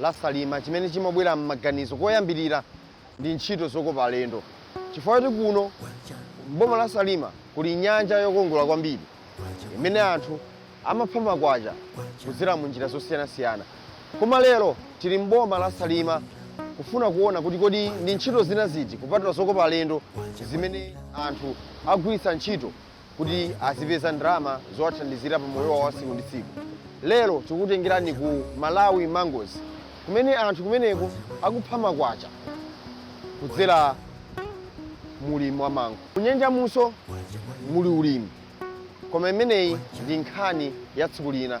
la Salima chimene chimabwera m'maganizo koyambirira ndi ntchito zokopa alendo chifukwa choti kuno m'boma la Salima kuli nyanja yokongola kwambiri imene anthu amapha makwacha kudzera mu njira zosiyanasiyana. Koma lero tili m'boma la Salima kufuna kuona kuti kodi ndi ntchito zina ziti kupatula zokopa alendo zimene anthu akugwiritsa ntchito kuti azipeza ndalama zowathandizira pa moyo wawo wa tsiku ndi tsiku. Lero tikukutengerani ku Malawi Mangoes kumene anthu kumeneko akupha makwacha kudzera mu ulimi wa mango. Kunyanja munso muli ulimi koma imeneyi ndi nkhani ya tsiku lina.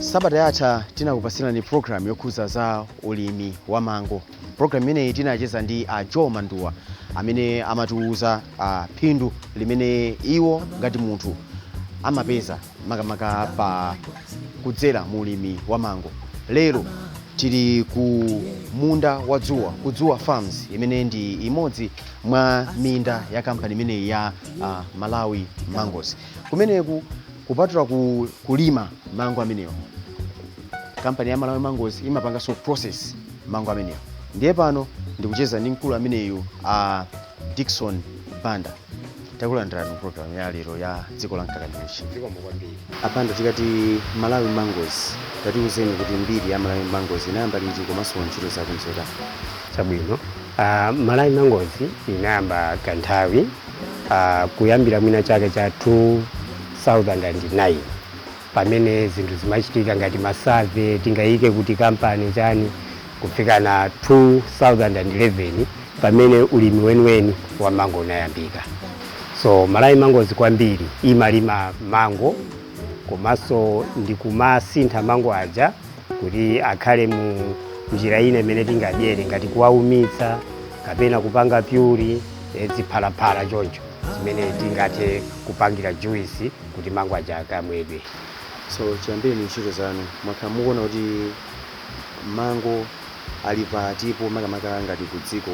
sabata yatha tinakupatsirani program yokhuza za ulimi wa mango program imeneyi tinacheza ndi a joe manduwa amene amatiwuza ah, phindu limene iwo ngati munthu amapeza makamaka pa kudzera mu ulimi wa mango lero tili ku munda wa dzuwa ku dzuwa farms imene ndi imodzi mwa minda ya kampani imeneyi ya ah, malawi mangoes kumeneku kupatula ku, kulima mango amenewo kampani ya malawi mangoes imapanganso process mango amenewa ndiye pano ndikucheza ndi mkulu ameneyu a dickson banda takulandirani programu ya lero ya dziko la mkaka ndi uchi zikomo kwambiri a banda tikati malawi mangoes tatiuzeni kuti mbiri ya malawi mangoes inayamba liti komanso ntchito zake nzotani chabwino uh, malawi mangoes inayamba ka nthawi uh, kuyambira mwina chaka cha 2009 pamene zinthu zimachitika ngati ma survey tingayike pati kampani chiyani kufika na 2011 pamene ulimi weniweni wa mango unayambika so malawi mangoes kwambiri imalima mango komanso ndikumasintha mango aja kuti akhale mu njira ina imene tingadyere ngati kuwaumitsa kapena kupanga puree eh, ziphalaphala choncho zimene tingathe kupangira juice kuti mango aja akamwedwe. So chiyambireni ntchito zanu mwakhala mukuona kuti mango ali patipo makamaka ngati ku dziko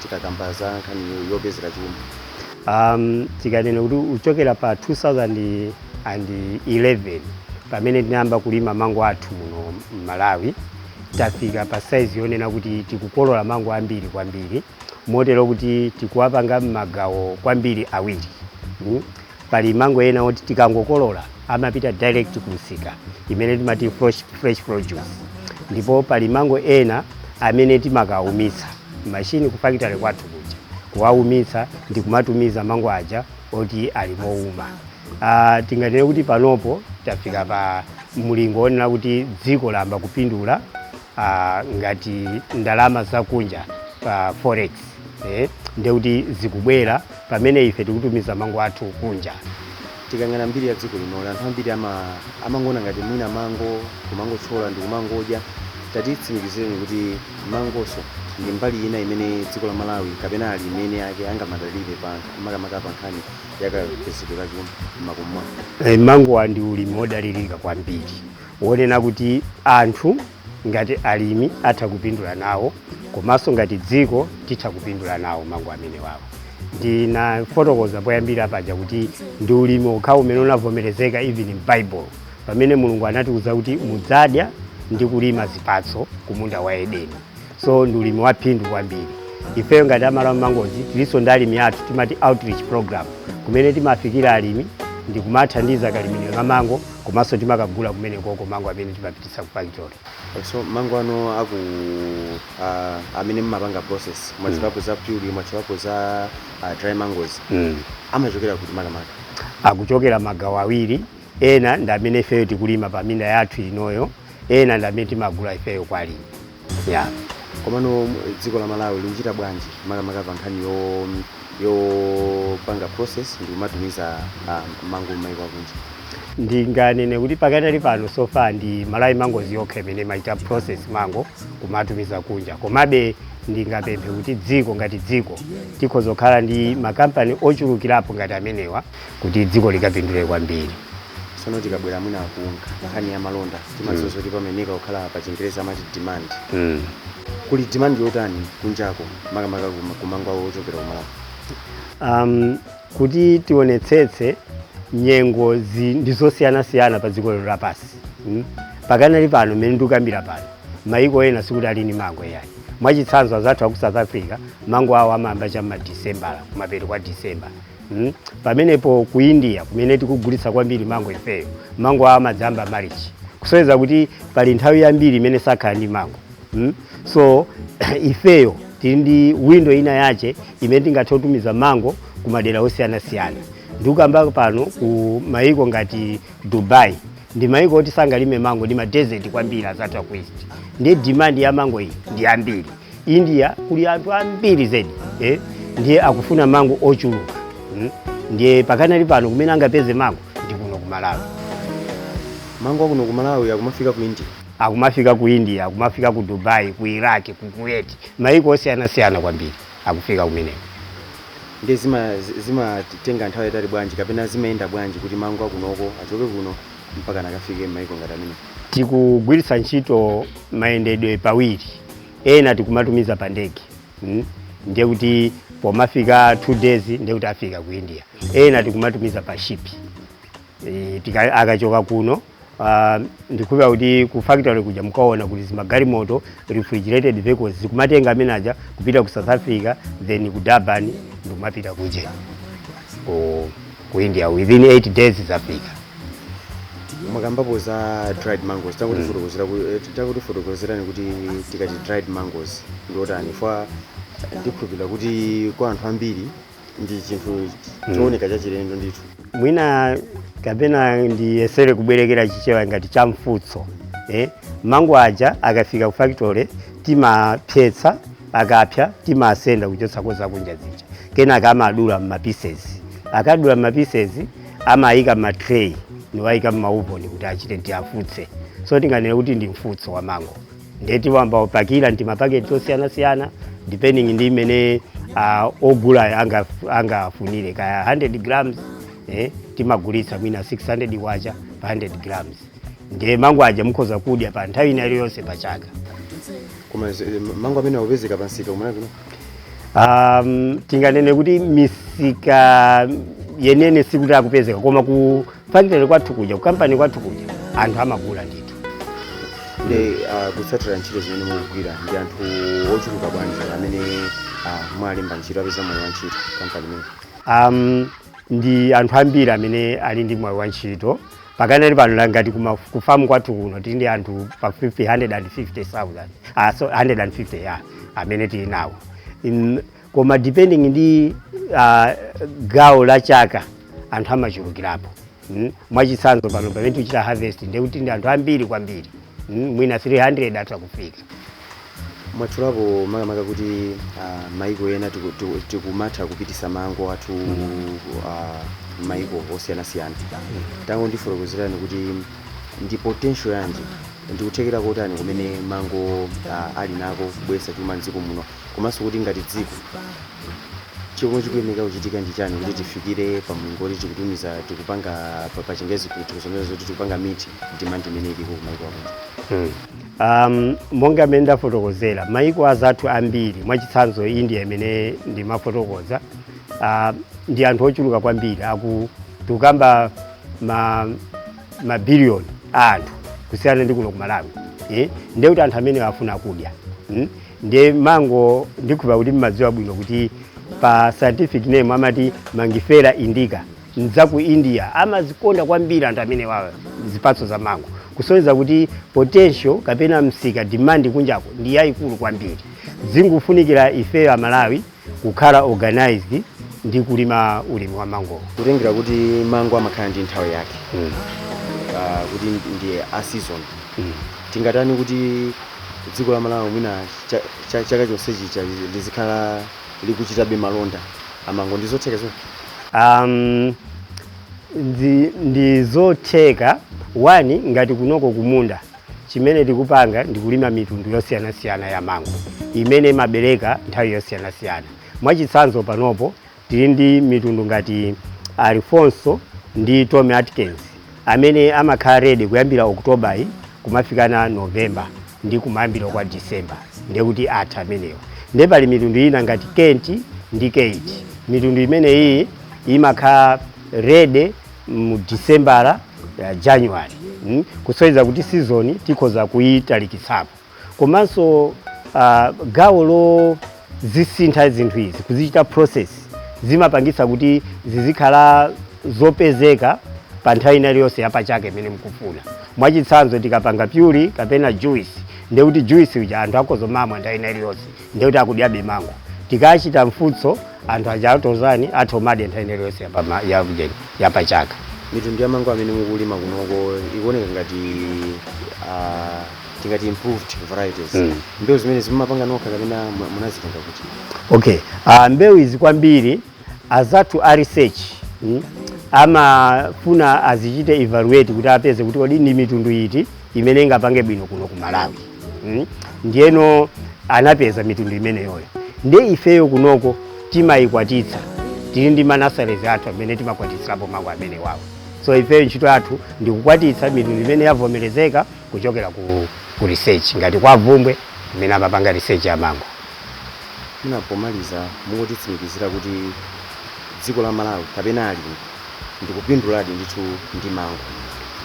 tikakamba za nkhani yopezera chuma? Tikanena kuti kuchokera pa 2011 pamene tinayamba kulima mango athu muno m'Malawi, tafika pa saizi yonena kuti tikukolola mango ambiri kwambiri motero kuti tikuwapanga m'magawo kwambiri awiri. pali mango ena oti tikangokolola amapita direct kumsika imene timati fresh, fresh produce ndipo pali mango ena amene timakaumitsa mashini ku factory kwathu kuja kuwaumitsa ndi kumatumiza mango aja oti ali mouma uh, tinganene kuti panopo tafika pa mlingo wonena kuti dziko layamba kupindula uh, ngati ndalama zakunja za forex eh, ndiye kuti zikubwera pamene ife tikutumiza mango athu kunja tikayang'ana mbiri ya dziko lino anthu ambiri ama- amangoona ngati mwina mango kumangothyola ndi kumangodya tatitsimikizireni kuti mangonso ndi mbali ina imene dziko la malawi kapena alimi ake angamadalire pa makamaka pa nkhani yakapezedwe ka chuma m'makomo mwake Eh, mango ndi ulimi wodalirika kwambiri wonena kuti anthu ngati alimi atha kupindula nawo komanso ngati dziko titha kupindula nawo mango amenewawa. Ndinafotokoza poyambira paja kuti ndi ulimi okhawo umene unavomerezeka even m'Baibulo pamene Mulungu anatiuza kuti mudzadya ndi kulima zipatso ku munda wa Edeni. So ndi ulimi wa phindu kwambiri. Ifeyo ngati a Malawi Mangoes tilinso ndi alimi athu timati outreach program kumene timafikira alimi ndi kumathandiza kalimidwe ka mango komanso timakagula kumene koko mango amene timapititsa So mango ano aku a, amene mmapanga process mwatchulapo za puree mwatchulapo za uh, dry mangoes mm. amachokera kuti makamaka akuchokera magawo awiri ena ndi amene ifeyo tikulima pa minda yathu inoyo ena ndi amene timagula ifeyo kwa alimi Yeah. Komano dziko la Malawi likuchita bwanji makamaka pa nkhani yopanga process ndi kumatumiza ah, mango m'mayiko akunja? ndinganene kuti pakadali pano so far ndi Malawi Mangoes yokha imene imachita process mango kumatumiza kunja komabe ndingapemphe kuti dziko ngati dziko tikhoza kukhala ndi makampani ochulukirapo ngati amenewa kuti dziko likapindule kwambiri tsono tikabwera mwina ku nkha- nkhani ya malonda timadziwa zoti pamayenera kukhala pa chingerezi amati demand mm. kuli demand yotani kunjako makamaka kuma- kumango ochokera ku Malawi um, kuti tionetsetse nyengo zi- ndi zosiyanasiyana pa dziko lero lapansi mm? pakanali pano mmene ndikukambira pano maiko ena sikuti ali ndi mango yayi mwachitsanzo azathu aku south africa mango awo amayamba cha mmadisembala kumapeto kwa disembala Mm. pamenepo ku india kumene tikugulitsa kwambiri mango ifeyo mango awo amadzayamba marichi kusonyeza kuti pali nthawi yambiri imene sakhala ndi mango mm. so ifeyo tili ndi window ina yache imene tingathe kutumiza mango ku madera osiyanasiyana ndikukamba pano ku mayiko ngati dubai ndi mayiko oti sangalime mango ndi madesert kwambiri azathu aku East ndiye demand ya mango iyi ndi yambiri india kuli anthu ambiri zedi eh? ndiye akufuna mango ochuluka mm? ndiye pakanali pano kumene angapeze mango ndi kuno ku malawi mango akuno ku malawi akumafika ku india akumafika ku india akumafika ku dubai ku iraq ku kuwait maiko osiyanasiyana kwambiri akufika kumeneko ndiye zimatenga zima zimatenga nthawi yaitali bwanji kapena zimayenda bwanji kuti mango akunoko achoke kuno mpaka nakafike m'maiko ngati amene tikugwiritsa ntchito mayendedwe pawiri ena tikumatumiza pa ndege mm? ndiye kuti pomafika two days ndiye kuti afika ku india ena tikumatumiza pa ship e, tika- akachoka kuno ah, ndikhulupira kuti ku factory kuja mukuona kuti zimagalimoto refrigerated vehicles zikumatenga amene aja kupita ku south africa then ku durban ndikumapita kuja oh. ku india within 8 days zafika mwakambapo za dried mangoes tangotifotokozera ku- eh, tangotifotokozerani kuti tikati dried mangoes ndiotani chifukwa ndikhulupirira kuti kwa anthu ambiri ndi chinthu chooneka chachilendo ndithu mwina kapena ndiyesere kubwerekera chichewa ngati cha mfutso eh? mango aja akafika ku factory timapsetsa akapsa timasenda kuchotsako zakunja zija kenaka amadula mmapisesi akadula mmapisesi amayika mmatray niwayika mmauvoni kuti achite tiafutse so tinganene kuti ndi mfutso wa mango ndiye timayamba kupakira mtimapaketi tosiyanasiyana depending ndi mmene uh, ogulayo anga- angafunire kaya 100 grams eh, timagulitsa mwina 600 kwacha pa 100 grams ndiye mango aja mukhoza kudya pa nthawi ina iliyonse pa chaka koma zi- mango amene akupezeka pamsika kumene kuno um, tinganene kuti misika yeniyeni sikuti akupezeka koma ku factory kwathu kuja ku kampani kwathu kuja anthu amagula ndithu ndi ah, kutsatira ntchito zimene mukugwira ndi anthu ochuluka bwanji amene ah, mwalemba ntchito apeza mwayi wa ntchito kampani imeneyi um, ndi anthu ambiri amene ali ndi mwayi wa ntchito pakanali pano la ngati kuma- ku famu kwathu kuno tili ndi anthu pafupi 150,000 ah, sorry 150 ya amene tili nawo In- koma depending ndi ah, gawo la chaka anthu amachulukirapo Mm. mwachitsanzo pano pamene tichita harvest ndekuti tili ndi anthu ambiri kwambiri mm, mwina 300 atha kufika mwatchulapo makamaka kuti ah, maiko ena tiku- tiku- tikumatha kupititsa mango athu ah, maiko osiyanasiyana tangondifotokozerani kuti ndi potential yanji ndikuthekera kotani kumene mango ah, ali nako kubweretsa chuma mdziko muno komanso kuti ngati dziko chimene chikufunika kuchitika ndi chani kuti tifikire pa mlingo woti tikutumiza tikupanga pa- pa chingezi kusonyeza kuti tikupanga meet demand imene iliko kumaiko akunja Mm. Um, monga mmene ndafotokozera maiko azathu ambiri mwachitsanzo india imene ndimafotokoza uh, ndi anthu ochuluka kwambiri tikukamba ma mabiliyoni a anthu kusiyana ndi kuno ku malawi eh? ndekuti anthu amenewo afuna kudya mm? nde mango ndikhupa kuti mmadziwa bwino kuti pa scientific name amati mangifera indica nde ku india amazikonda kwambiri anthu amenewawo zipatso za mango kusonyeza kuti potential kapena msika demand kunjako ndi yayikulu kwambiri zikungofunikira ifeyo amalawi kukhala organized ndi kulima ulimi wa mango kutengera kuti mango amakhala ndi nthawi yake mm. uh, kuti ndi a season mm. tingatani kuti dziko la malawi mwina chaka cha, cha, cha chonsechi lizikhala likuchitabe malonda amango ndi zotheka zoona um, ndi, ndi zotheka one ngati kunoko kumunda Chimene tikupanga ndi kulima mitundu yosiyanasiyana ya mango imene imabereka nthawi yosiyanasiyana. Mwachitsanzo panopo tili ndi mitundu ngati Alfonso ndi Tommy Atkins amene amakhala ready kuyambira October kumafikana November ndi kumayambiriro kwa December ndiye kuti atha amenewo. Ndiye pali mitundu ina ngati Kent ndi Keitt. Mitundu imeneyiyi imakhala ready mu December January mm, kusonyeza kuti season tikhoza kuyitalikitsapo komanso uh, gawo lozisintha zinthu izi kuzichita process zimapangitsa kuti zizikhala zopezeka pa nthawi ina iliyonse ya pachaka imene mukufuna mwachitsanzo tikapanga puree kapena juice ndekuti juice uja anthu akhoza kumamwa nthawi ina iliyonse ndiye kuti akudyabe mango tikachita mfutso anthu aja akhozano kumadya nthawi ina iliyonse yapama- ya- ya- yapachaka mitundu ya mango amene mukulima kunoko ikuoneka ngati ah, tingati improved varieties Mm. mbewu zimenezi mumapanga nokha kapena mu- munazitenga kuti okay uh, mbewu izi kwambiri azathu a research mm, amafuna azichite evaluate kuti apeze kuti kodi ndi mitundu iti imene ingapange bwino kuno ku Malawi mm? ndiyeno anapeza mitundu imeneyoyo ndiye ifeyo kunoko timayikwatitsa tili ndi manasalezi athu amene timakwatitsirapo mango amenewawo so ifeyo ntchito yathu ndi kukwatitsa mitundu imene yavomerezeka kuchokera ku, ku research ngati kwa bvumbwe imene amapanga research ya mango mwina pomaliza mungotitsimikizira kuti dziko la malawi kapena alimi ndikupinduladi ndithu ndi mango.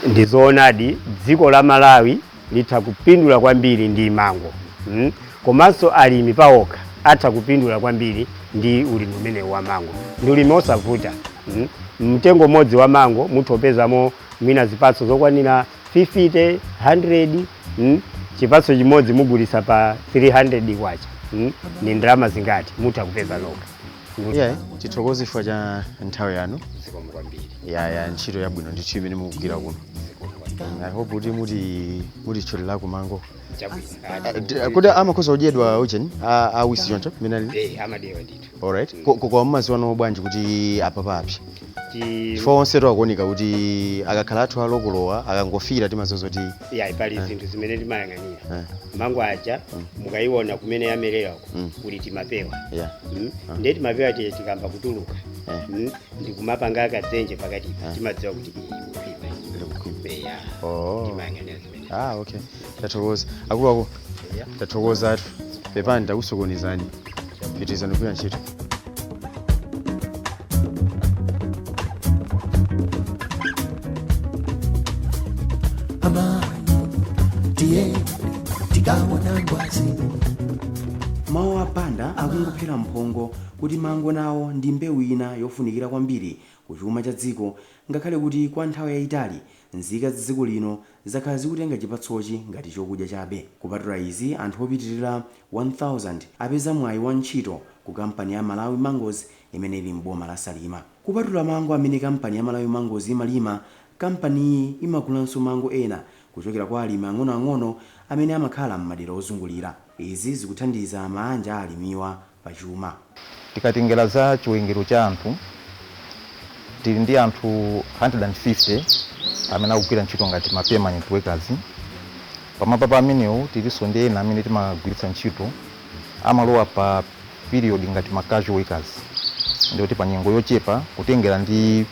Ndizoonadi dziko la Malawi litha kupindula kwambiri ndi mango mm? komanso alimi paokha atha kupindula kwambiri ndi ulimi umenewu wa mango ndi ulimi osavuta mm? mtengo umodzi wa mango mutha kupezamo mwina zipatso zokwanira 50 100 mm? chipatso chimodzi mugulitsa pa 300 kwacha mm? ni ndalama zingati mutha kupeza nokha iyayi tithokoze chifukwa cha nthawi yanu zikomo kwambiri yaya ntchito yabwino ndithu imene mukugwira kuno zikomo kwambiri Mm, i hope kuti mutitcholera ku mango chabwino Ah, d- ah, kodi amakhoza kudyedwa ujeni awisi choncho mmene ali eh amadyedwa ndithu alright Ko- ko- koma mumadziwa bwanji kuti apapa apsa chifukwa onsetu akuoneka kuti akakhala atha kukoloredwa akangofikira timadziwa zoti yayi pali Eh. zinthu zimene timayang'anira eh, mango aja Mm. mukayiona kumene yamerera uko Mm. kuli timapewa yeah, Mm. Ah. ndiye timapewa tija tikayamba kutuluka eh, Mm. ndikumapanga kadzenje pakati Ah. timadziwa kuti iyi kukhwima ndikukhwima. eya Oh. timayang'anira zimene Ah, okay. tathokoza akuluakulu tathokoza athu pepani takusokonezani pitirizani kugwira ntchito mawu a Banda akungophera mphongo kuti mango nawo ndi mbewu ina yofunikira kwambiri ku chuma cha dziko ngakhale kuti kwa nthawi yayitali nzika za dziko lino zakhala zikutenga chipatsochi ngati chokudya chabe. Kupatula izi, anthu opitirira 1000 apeza mwayi wa ntchito ku kampani ya Malawi Mangoes imene ili m'boma la Salima. Kupatula mango amene kampani ya Malawi Mangoes imalima, kampaniyi imagulanso mango ena kuchokera kwa alimi ang'onoang'ono amene amakhala m'madera ozungulira. Izi zikuthandiza maanja a alimiwa. pa chuma. Tikatengera za chiwerengero cha anthu, tili ndi anthu 150 amene akugwira ntchito ngati ma permanent workers. Pamwamba pa amenewo tilinso ndi ena amene timagwiritsa ntchito, amalowa pa period ngati ma casual workers. Ndiye kuti pa nyengo yochepa kutengera ndi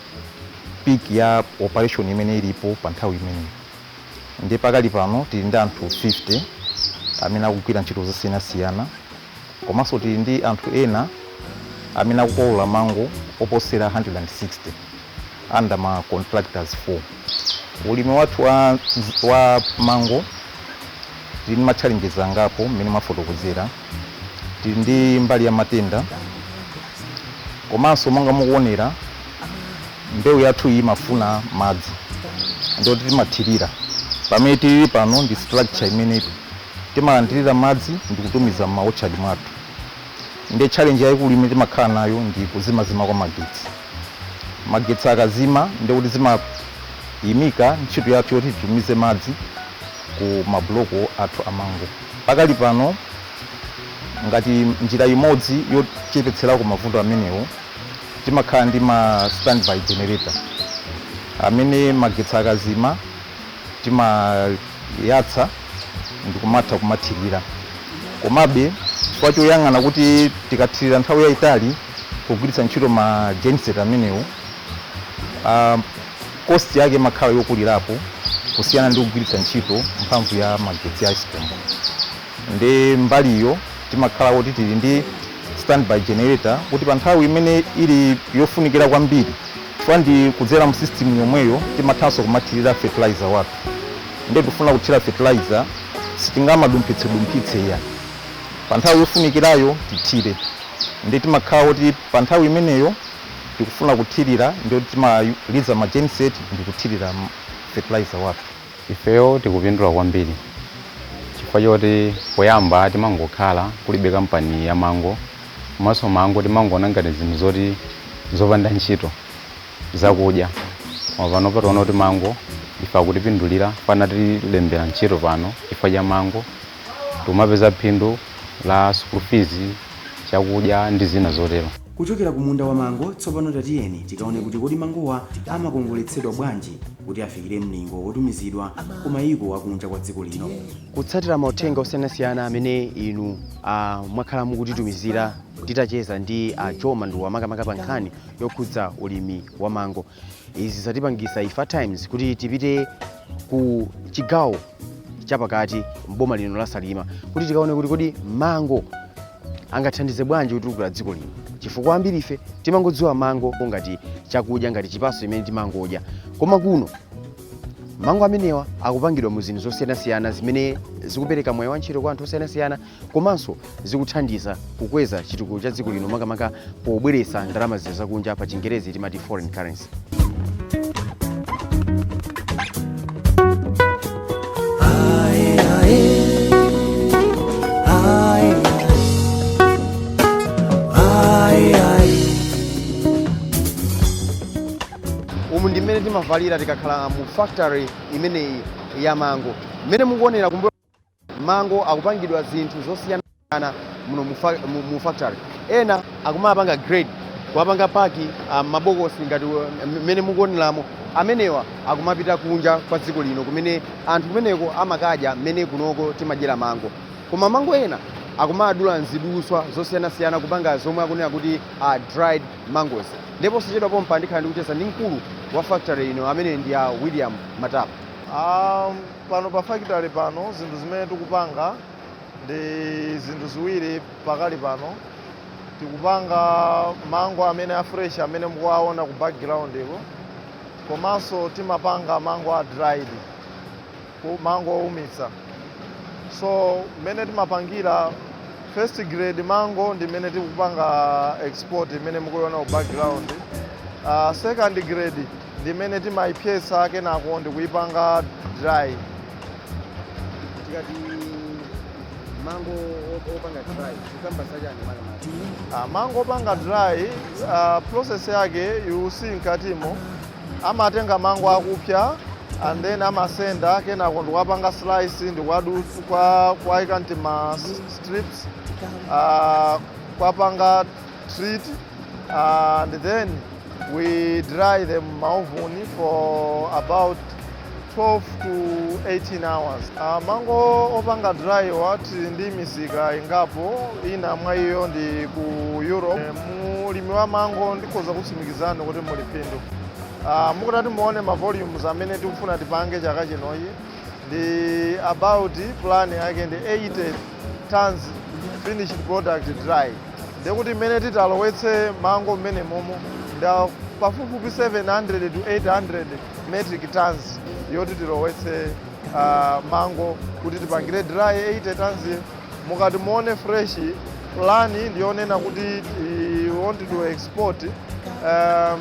peak ya operation imene ilipo pa nthawi imeneyo. Ndiye pakali pano tili ndi anthu 50 amene akugwira ntchito zosiyanasiyana. Komanso tili ndi anthu ena amene akukolola mango oposera 160 under ma contractors 4. Ulimi wathu wa mango tili ndi ma challenges angapo mmene mwafotokozera. Tili ndi mbali ya matenda komanso monga mukuonera mbewu yathu iyi imafuna madzi ndiye kuti timathirira. Pamene tilili pano ndi structure imeneyi. Timalandilira madzi ndikutumiza m'ma orchard mwathu nde challenge yaikulu imene timakhala nayo ndi kuzimazima kwa magetsi. Magetsi akazima ndekuti timayimika ntchito yathu yoti titumize madzi ku ma block athu a mango. Pakali pano ngati njira imodzi yochepetserako mavuto amenewo timakhala ndi ma standby generator amene magetsi akazima, timayatsa ndikumatha kumathilira komabe chifukwa choyang'ana kuti tikathilira nthawi yayitali pogwiritsa ntchito ma genset amenewo ah, cost yake imakhala yokulirapo kusiyana ndi kugwiritsa ntchito mphamvu ya magetsi a ESCOM ndiye mbaliyo timakhala kuti tili ndi standby generator kuti pa nthawi imene ili yofunikira kwambiri chifukwa ndi kudzera mu system yomweyo timathanso kumathirira fertilizer wathu ndiye tikufuna kuthira fertilizer sitingamadumphitse dumphitse iya pa nthawi yofunikirayo tithire ndiye timakhala kuti pa nthawi imeneyo tikufuna kuthirira ndiye kuti timaliza ma genset ndi kuthirira fertilizer wathu Ifeyo tikupindula kwambiri chifukwa choti poyamba timangokhala kulibe kampani ya mango komanso mango timangoona ngati zinthu zoti zopanda ntchito zakudya koma panopa taona kuti mango ife akutipindulira chifukwa anatilembera ntchito pano chifukwa cha mango tikumapeza phindu la school fees chakudya ndi zina zotero. Kuchokera ku munda wa mango, tsopano tatiyeni tikaone kuti kodi mangowa amakongoletsedwa bwanji kuti afikire mlingo wotumizidwa ku mayiko a kunja kwa dziko lino. Kutsatira mauthenga osiyanasiyana amene inu mwakhala mukutitumizira titacheza ndi a Joe Manduwa makamaka pa nkhani yokhudza ulimi wa mango, izi zatipangisa ife a Times kuti tipite ku chigawo chapakati mboma lino la salima kuti tikaone kuti kodi mango angathandize bwanji kutukula dziko lino chifukwa ambiri ife timangodziwa mango ngati chakudya ngati chipatso chimene timangodya koma kuno mango amenewa akupangidwa mu zinthu zosiyanasiyana zimene zikupereka mwayi wa ntchito kwa anthu osiyanasiyana komanso zikuthandiza kukweza chitukuko cha dziko lino makamaka pobweretsa ndalama zija zakunja pa chingerezi timati foreign currency umu ndi mmene timavalira tikakhala mu factory imeneyi ya mango mmene mukuonera kumbuyo mango akupangidwa zinthu zosiyanasiyana muno mu fa- mu- mu factory ena akumapanga grade kuwapanga paki ah, m'mabokosi ngati uh, mmene mukuoneramo amenewa akumapita kunja kwa dziko lino kumene anthu kumeneko amakadya mmene kunoko timadyera mango koma mango ena akumawadula m'ziduswa zosiyanasiyana kupanga zomwe akunena kuti uh, dried mangoes ndipo posachedwapa pompa ndikhala ndikucheza ndi mkulu wa factory ino amene ndi a william matapa um, Pano pa factory pano zinthu zimene tikupanga ndi zinthu ziwiri pakali pano. Tikupanga mango amene a fresh amene mukuwaona ku background ko komanso timapanga mango a dried ku- mango oumitsa. So mmene timapangira first grade mango ndi imene tikupanga export imene mukuiona ku background. Uh, second grade ndi imene timaipsetsa kenako ndikuipanga dry. Tikati mango opanga dry, tikukamba za chani makamaka? Ah, mango opanga dry uh, process yake you see mkatimo amatenga mango akupsa and then amasenda kenako ndikuwapanga slice ndikuwadutsa kwa kuwaika m'tima strips uh, kuwapanga treat and then we dry them m'maovuni for about 12 to 18 hours uh, mango opanga dry wa tili ndi misika ingapo ina mwa iyo ndi ku europe Eh, mulimi wa mango ndikhoza kutsimikizani kuti muli phindu Ah, mukutati muone ma volumes amene tikufuna tipange chaka chinochi ndi about plan yake ndi 80 tons finished product dry Ndiye kuti mmene titalowetse mango mmenemomo ndi a pafupifupi 700 to 800 metric tons yoti tilowetse uh, mango kuti tipangire dry 80 tons mukati muone fresh plan ndiyonena kuti we want to export um,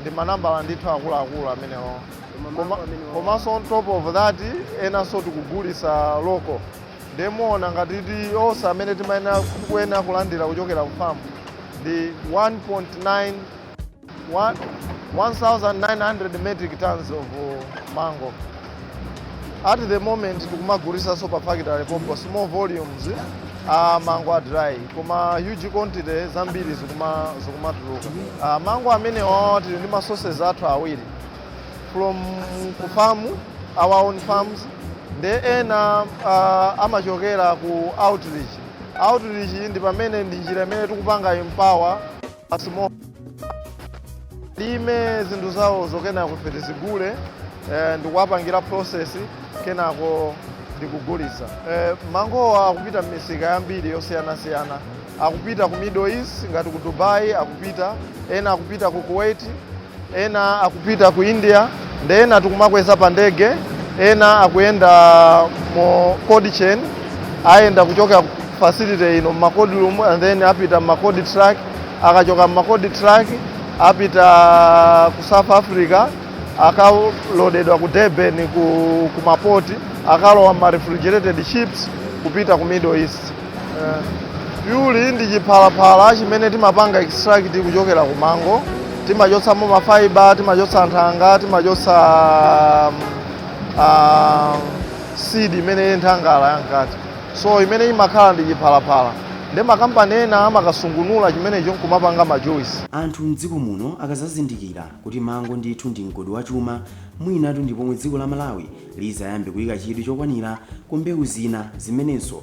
ndi manambala ndithu akuluakulu amenewo Koma- komanso on top of that enanso tikugulitsa local ndiye muona ngati kuti onse amene timayenera kuyenera kulandira kuchokera kufamu ndi 1.9 wa- 1900 metric tons of uh, mango at the moment tikumagulitsanso pa factory pompo small volumes a mango a dry koma huge quantity zambiri zikuma zikumatuluka a mango amenewawa tili ndi ma sources athu awiri from ku farm our own farms ndi ena a, amachokera ku outreach outreach ndi pamene ndi njira imene tikupanga empower basi alime zinthu zawozo kenako ife tizigule eh, ndikuwapangira process kenako ndikugulitsa eh, mangowa akupita m'misika yambiri yosiyanasiyana akupita ku middle east ngati ku dubai akupita ena akupita ku kuwait Ena akupita ku India nde ena tikumakweza pa ndege, ena akuyenda mu cold chain, ayenda kuchokera ku facility ino mma cold room and then apita mma cold truck, akachoka mma cold truck apita ku South Africa akalodedwa ku Durban ku ma port akalowa mma refrigerated ships kupita ku Middle East. Eh, puree ndi chiphalaphala chimene timapanga extract kuchokera ku mango timachotsamo mafaiba timachotsa nthanga timachotsa um, uh, seed imene nthangala yamkati so imene imakhala ndi chiphalaphala ndi makampani ena amakasungunula chimenecho nkumapanga majuisi anthu mdziko muno akazazindikira kuti mango ndithu ndi mgodi wa chuma mwinatu ndi pomwe dziko la malawi lizayambe kuyika chidwi chokwanira ku mbewu zina zimenenso